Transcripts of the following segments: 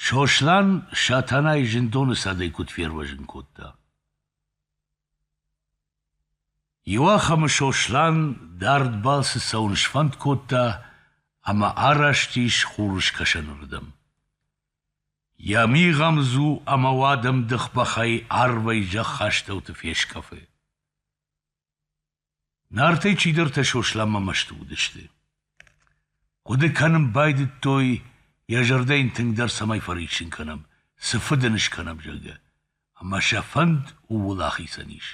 Сослан Сатанайы зындоны цадӕй куыд фервӕзын кодта? Иуахӕмы Сослан дард балцы цӕуын сфӕнд кодта ӕмӕ араст ис хурыскӕсӕнырдӕм. Йӕ мигъӕмдзу ӕмӕ уадӕмдых бӕхӕй арвӕй зӕххастӕуты фескъӕфы. Нартӕй чидӕртӕ Сосланмӕ мӕсты уыдысты. Хъуыды кӕнын байдыдтой, йӕ зӕрдӕ йын тынгдӕр цӕмӕй фӕриссын кӕнӕм, цы фыд ын скӕнӕм, зӕгъгӕ. Ӕмӕ сӕ фӕнд ууыл ахицӕн ис.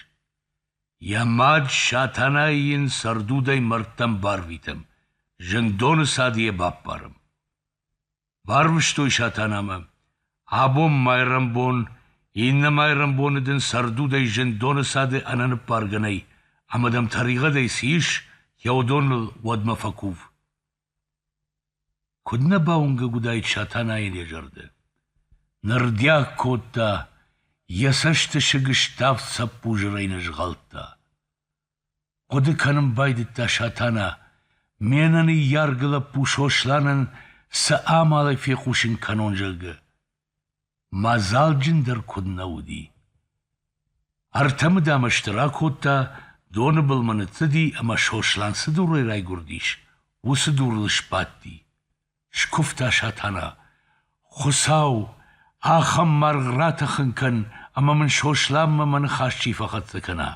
Йӕ мад Сатанайы йын цӕрдудӕй мӕрдтӕм барвитӕм, зындоны цады йӕ баппарӕм. Барвыстой Сатанамӕ. Абон майрӕмбон, иннӕ майрӕмбоны дын цӕрдудӕй зындоны цады ӕнӕныббаргӕ нӕй, ӕмӕ дӕм тӕригъӕдӕй цы ис, йӕ уыдоныл уӕдмӕ фӕкув. Куыд нӕ бауынгӕг уыдаид Сатанайӕн йӕ зӕрдӕ! Нырдиаг кодта, йӕ цӕсты сыг ставд цӕппузырӕй нӕ згъӕлдта. Хъуыды кӕнын байдыдта Сатана, ме ныййаргӕ лӕппу Сосланӕн цы амалӕй фехъусын кӕнон, зӕгъгӕ. Мадзалджындӕр куыд нӕ уыди! Ӕртӕ мыдамӕсты ракодта, доны былмӕ ныццыди ӕмӕ Сослан цы дурӕй райгуырдис, уыцы дурыл сбадти. Скуывта Сатана: Хуыцау, ахӕм маргъ ратӕхын кӕн, ӕмӕ мын Сосланмӕ мӕ ныхас чи фӕхӕццӕ кӕна.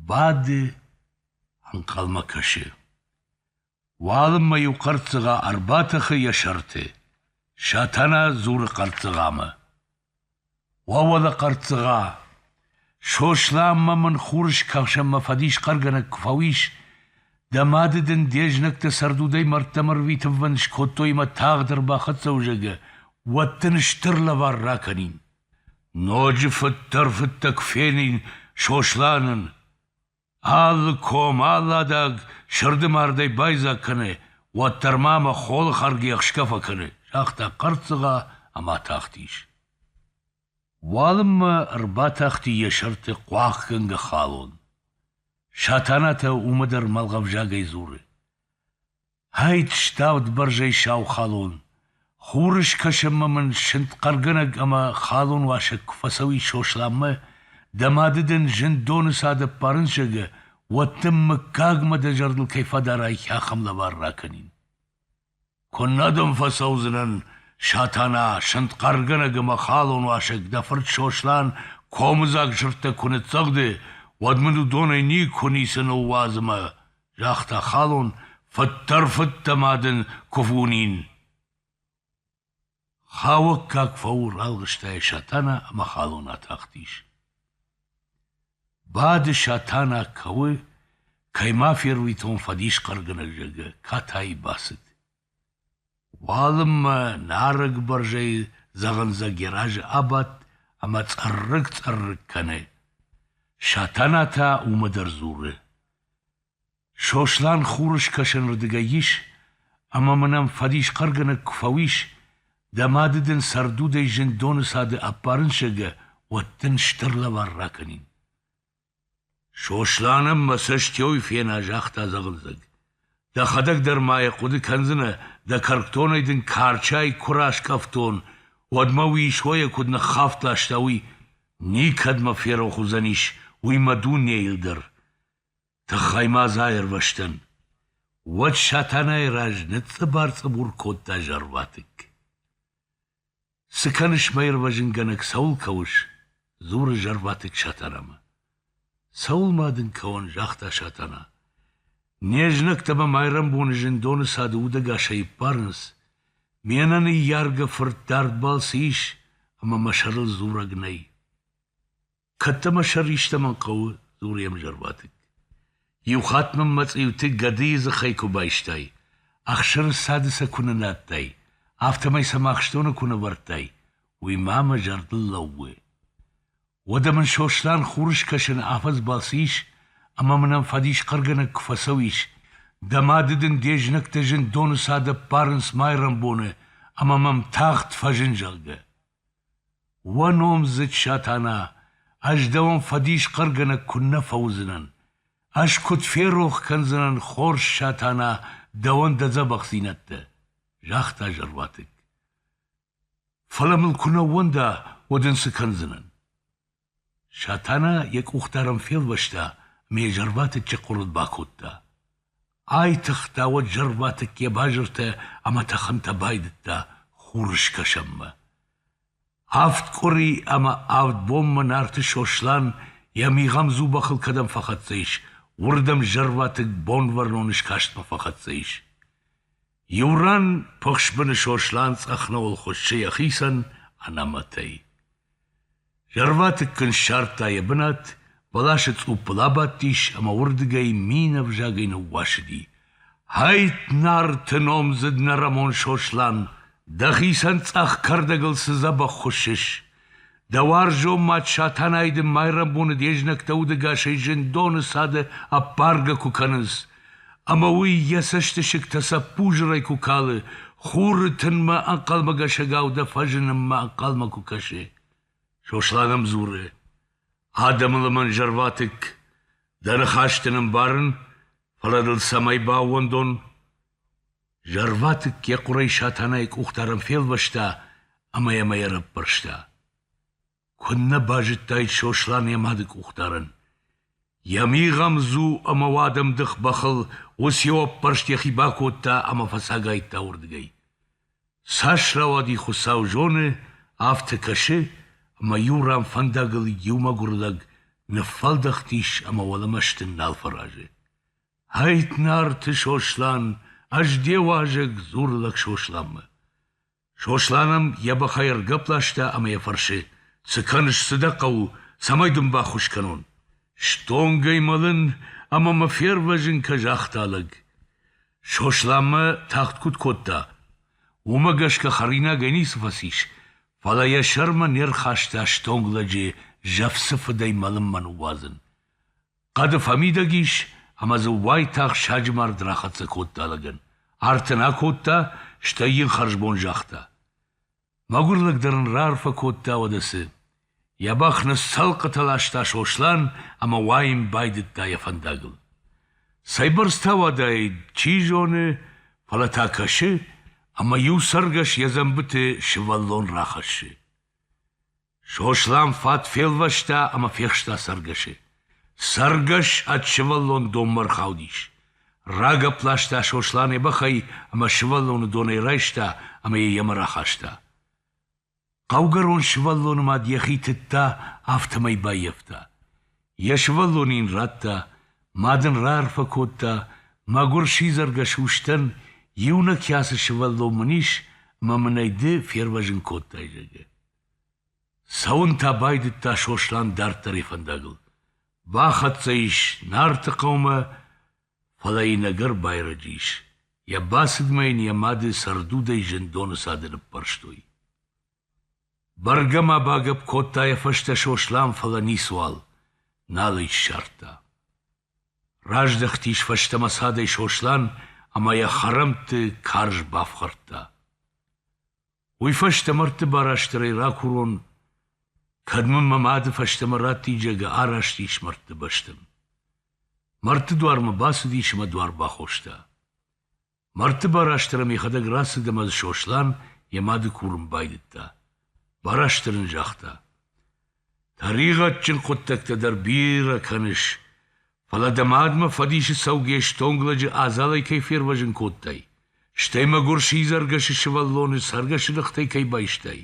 Бады, ӕнхъӕлмӕ кӕсы. Уалынмӕ-иу хъӕрццыгъа ӕрбатӕхы йӕ сӕрты. Сатана дзуры хъӕрццыгъамӕ: Уӕвӕлӕ, хъӕрццыгъа, Сосланмӕ мын хурыскӕсӕнмӕ фӕдисхъӕргӕнӕг куы фӕуис, дӕ мады дын де знӕгтӕ цӕрдудӕй мӕрдтӕм ӕрвитынвӕнд скодтой ӕмӕ тагъд ӕрбахӕццӕ уызӕгӕ, уӕд дын стыр лӕвар ракӕнин. Ноджы фыддӕр фыдтӕ куы фенин Сосланӕн. Алы ком, алы адаг сырды мардӕй байдзаг кӕны, уӕддӕр ма мӕ холы хӕргӕ ӕхсгӕ фӕкӕны, загъта хъӕрццыгъа ӕмӕ атахтис. Уалынмӕ ӕрбатахти йӕ сӕрты хъуахъгӕнгӕ халон. Сатанатӕ уымӕ дӕр мӕлгъӕвзагӕй дзуры. Хӕйт ставд бӕрзӕй сау халон. Хурыскӕсӕнмӕ мын сынд хъӕргӕнӕг ӕмӕ халон уасӕг куы фӕцӕуи Сосланмӕ, дӕ мады дын зын доны цад ӕппарын зӕгӕ, уӕд дын мыггагмӕ дӕ зӕрдыл кӕй фӕдарай ахӕм лӕвар ракӕнин. Куыннӕ дӕм фӕцӕудзынӕн, Сатана, сынд хъӕргӕнӕг ӕмӕ халон уасӕг дӕ фырт Сослан комыдзаг сырдтӕ куы ныццӕгъды, уӕд мын уыдонӕй никуы ницы ныууадз ӕмӕ загъта халон, фыддӕр-фыддӕ ма дын куы фунин. Хауӕггаг фӕурӕлгъыстӕй Сатана ӕмӕ халон атахтис. Бады Сатана кӕуы, кӕй ма фервитон фӕдисхъӕргӕнӕг зӕгъы, катайы бацыд. Уалынмӕ нарӕг бӕрзӕйы дзӕгъындзӕг йӕ разы абадт ӕмӕ цъыррыкк-цъыррыкк кӕны. Сатана та уымӕ дӕр дзуры: «Сослан хурыскӕсӕнырдыгӕй ис, ӕмӕ мын ӕм фӕдисхъӕргӕнӕг куы фӕуис, дӕ мады дын цӕрдудӕй зындоны цады ӕппарынсӕгӕ, уӕд дын стыр лӕвар ракӕнин». Сосланӕн мӕ цӕстӕй фена, загъта дзӕгъындзӕг. Дӕхӕдӕг дӕр ма йӕ хъуыды кӕндзынӕ, дӕ кӕркдонӕй дын карчӕй куы раскъӕфтон, уӕд мӕ уый сойӕ куыд ныххафт ласта, уый. Никӕд мӕ ферох уыдзӕнис уый мӕ дунейыл дӕр. Тыххӕй ма дзы аирвӕзтӕн. Уӕд Сатанайы раз ныцъцъыбар-цъыбур кодта зӕрватыкк. Цы кӕныс, мӕ ирвӕзынгӕнӕг, цӕуыл кӕуыс? — дзуры зӕрваты Сатанамӕ. — Цӕуыл ма дын кӕуӕн? — загъта Сатана. — Не знӕгтӕ мӕ майрӕмбоны зындоны цады удӕгасӕй иппарынц. Ме нӕныййаргӕ фырт дардбӕл цы ис, ӕмӕ мӕ сӕрыл дзурӕг нӕй. Кӕд дӕ мӕ сӕр истӕмӕн хъӕуы, дзуры йӕм зӕрбатыкк. Иу хатт мын мӕ цъиуты гӕдыйы дзыхӕй куы байстай, ӕхсыры цады сӕ куы нынадтай, афтӕмӕй сӕм ахстоны куы нывӕрдтай, уый ма мӕ зӕрдыл лӕууы. Уӕдӕ мын Сослан хурыскӕсӕны афӕдзбал цы ис, ӕмӕ мын ӕм фӕдисхъӕргӕнӕг куы фӕцӕуис, дӕ мады дын де знӕгтӕ зындоны цад ӕппарынц майрӕмбоны ӕмӕ мӕм тагъд фӕзын, зӕгъгӕ. Уӕ номдзыд Сатана, ӕз дӕуӕн фӕдисхъӕргӕнӕг куыннӕ фӕуыдзынӕн! Ӕз куыд ферох кӕндзынӕн хорз Сатана дӕуӕн дӕ дзӕбӕхдзинӕдтӕ! — загъта зӕрватыкк. — Фӕлӕ мыл куы нӕ ууӕнда, уӕд ын цы кӕндзынӕн? Сатана йӕ къухтӕ ӕрӕмфелвӕста ӕмӕ йӕ зӕрватыччы хъуырыд бакодта. Айтыгъта уӕд зӕрватыкк йӕ базыртӕ ӕмӕ тӕхынтӕ байдыдта хурыскӕсӕнмӕ. Авд къуыри ӕмӕ авд бонмӕ Нарты Сослан йӕ мигъӕм дзубахыл кӕдӕм фӕхӕццӕ ис, уырдӕм зӕрватыкк бонвӕрнон скастмӕ фӕхӕццӕ ис. Иу ран пыхсбыны Сослан цъӕхнауыл хуыссы йӕхицӕн ӕнӕмӕтӕй. Зӕрватыкк ын ссардта йӕ бынат, бӕласы цъуппыл абадтис ӕмӕ уырдыгӕй мин ӕвзагӕй ныууасыди. «Хӕйтт, Нарты номдзыд нӕрӕмон Сослан, дӕхицӕн цъӕх кӕрдӕгыл цы дзӕбӕх хуыссыс! Дӕ уарзон мад Сатанайы дын майрӕмбоны де знӕгтӕ удӕгасӕй зындоны цады ӕппаргӕ куы кӕнынц, ӕмӕ уый йӕ цӕстысыгтӕ цӕппузырӕй куы калы, хуры тынмӕ ӕнхъӕлмӕгӕсӕгау дӕ фӕзынынмӕ ӕнхъӕлмӕ куы кӕсы. Сослан ӕм дзуры: «Адӕмы лымӕн зӕрватыкк, дӕ ныхӕсты нымбарын, фӕлӕ дыл цӕмӕй баууӕндон?» Зӕрватыкк йӕ хъуырӕй Сатанайы къухдарӕн фелвӕста ӕмӕ йӕм ӕй ӕрӕппӕрста. Куыннӕ базыдтаид Сослан йӕ мады къухдарӕн! Йӕ мигъӕмдзу ӕмӕ уадӕмдых бӕхыл уыцы ӕппӕрст йӕхи бакодта ӕмӕ фӕцагайдта уырдыгӕй. Цас рауади Хуыцау зоны, афтӕ кӕсы, ӕмӕ иу ран фӕндагыл иу мӕгуыр лӕг ныффӕлдӕхтис ӕмӕ уӕлӕмӕ стын нал фӕразы. Ӕйтт, Нарты Сослан, ӕз де уазӕг, дзуры лӕг Сосланмӕ. Сослан ӕм йӕ бӕхӕй ӕргӕпп ласта ӕмӕ йӕ фӕрсы: Цы кӕныс, цы дӕ хъӕуы, цӕмӕй дын баххуыс кӕнон? Стонгӕй мӕлын ӕмӕ мӕ фервӕзын кӕ, загъта лӕг. Сосланмӕ тагъд куыд кодта? Уымӕ гӕсгӕ хӕринагӕй ницы фӕцис, фӕлӕ йӕ сӕрмӕ не рхаста стонг лӕджы зӕфцы фыдӕй мӕлынмӕ ныууадзын. Хъӕды фӕмидӕг ис ӕмӕ дзы уайтагъд саджы мард рахӕццӕ кодта лӕгӕн. Арт ын акодта, стӕй йын хӕрзбон загъта. Мӕгуырлӕг дӕр ын раарфӕ кодта уӕдӕ цы. Йӕ бӕх ныцӕлхъытӕ ласта Сослан ӕмӕ уайын байдыдта йӕ фӕндагыл. Цӕйбӕрц та уӕдаид, чи зоны, фӕлӕ та кӕсы, ӕмӕ иу цӕргӕс йӕ дзӕмбыты сывӕллон рахӕссы. Сослан фат фелвӕста ӕмӕ фехста цӕргӕсы. Цӕргӕс ӕд сывӕллон донмӕ ӕрхаудис. Рагӕпп ласта Сосланы бӕхӕй ӕмӕ сывӕллоны донӕй райста ӕмӕ йӕ йемӕ рахаста. Хъӕугӕрон сывӕллоны мад йӕхи тыдта, афтӕмӕй баййӕфта. Йӕ сывӕллон йын радта, мад ын раарфӕ кодта, мӕгуыр сидзӕргӕ сустӕн, иунӕг кӕцы сывӕллон мын ис, ӕмӕ мын ӕй ды фервӕзын кодтай, зӕгъгӕ. Цӕуын та байдыдта Сослан дарддӕр йӕ фӕндагыл. Бахӕццӕ ис Нарты хъӕумӕ, фӕлӕ йын ӕгӕр байрӕджы ис. Йӕ бацыдмӕ йын йӕ мады цӕрдудӕй зындоны цады ныппӕрстой. Бӕргӕ ма багӕпп кодта йӕ фӕстӕ Сослан, фӕлӕ ницуал, нал ӕй ссардта. Раздӕхтис фӕстӕмӕ цадӕй Сослан ӕмӕ йӕ хӕрӕмтты карз бафхӕрдта. Уый фӕстӕ мӕрдты барастырӕй ракурон, кӕд мын мӕ мады фӕстӕмӕ раттиджагы араст ис мӕрдты бӕстӕм. Мӕрдты дуармӕ бацыдис ӕмӕ дуар бахоста. Мӕрдты барастырӕ мехӕдӕг рацыд ӕмӕ дзы Сослан йӕ мады курын байдыдта. Барастыр ын загъта. Тӕригъӕдджын хъуыддӕгтӕ дӕр бирӕ кӕныс, фӕлӕ дӕ мадмӕ фӕдисы цӕугӕ стонг лӕджы адзалӕй кӕй фервӕзын кодтай, стӕй мӕгуыр сидзӕргӕсы сывӕллоны цӕргӕсы ныхтӕй кӕй байстай,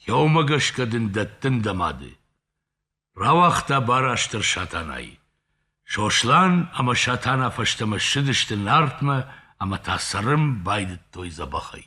иомӕ гӕсгӕ дын дӕттын дӕ мады. Рауагъта барастыр Сатанайы. Сослан ӕмӕ Сатана фӕстӕмӕ ссыдысты Нартмӕ ӕмӕ та цӕрын байдыдтой дзӕбӕхӕй.